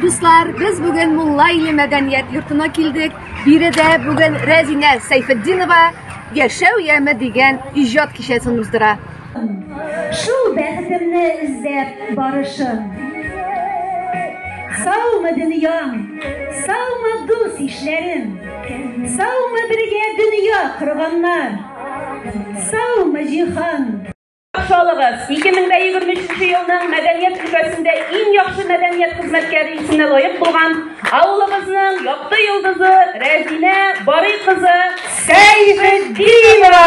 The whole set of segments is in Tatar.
Дуслар, без бүген Мулла иле мәдәният йортына килдек. Биредә бүген Рәзинә Сәйфетдинова Яшәү яме дигән иҗат кичәсен уздыра. Шул бәхетемне эзләп барышым. Саумы дөньям, саумы дус ишләрем, саумы бергә дөнья корганнар, саумы җиһан. Шалыгыз, 2023 елның мәдәният өлкәсендә иң яхшы мәдәният хезмәткәре исеменә лаек булган авылыбызның якты йолдызы Рәзинә Барый кызы Сәйфетдинова.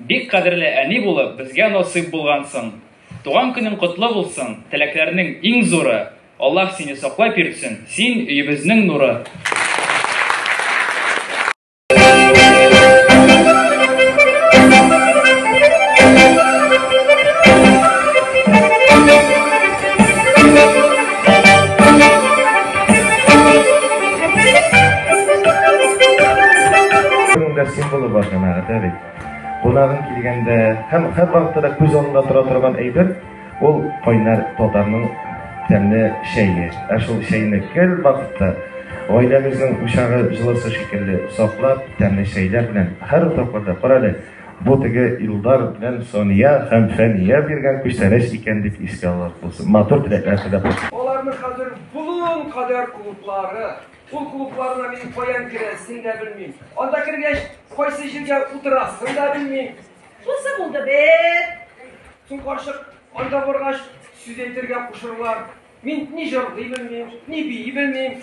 Бик кадерле әни булып безгә насыйп булгансың. Туган көнең котлы булсын, теләкләрнең иң зуры. Аллаһ сине саклап йөртсен, син өебезнең нуры. Ә бит. Кунагың килгәндә һәм һәрвакытта да күз алдында тора торган әйбер ул кайнар татарның тәмле чәе. Ә шул чәйне гел вакытта гаиләгезнең учагы җылысы шикелле саклап, тәмле чәйләр белән һәр утракларда карале. Бу теге Илдар белән Сония һәм Фәния биргән күчтәнәч икән дип искә алырлык булсын. Матур теләкләр теләп. Аларның хәзер болын кадәр клублары, Кул клубларына мин каян керәсен дә белмим. Анда кергәч, кайсы җиргә утырасын да белмим. Шунсы булды бит. Соң карчык анда баргач, сүз әйтергә кушырлар. Мин ни җырлый белмим, ни бии белмим.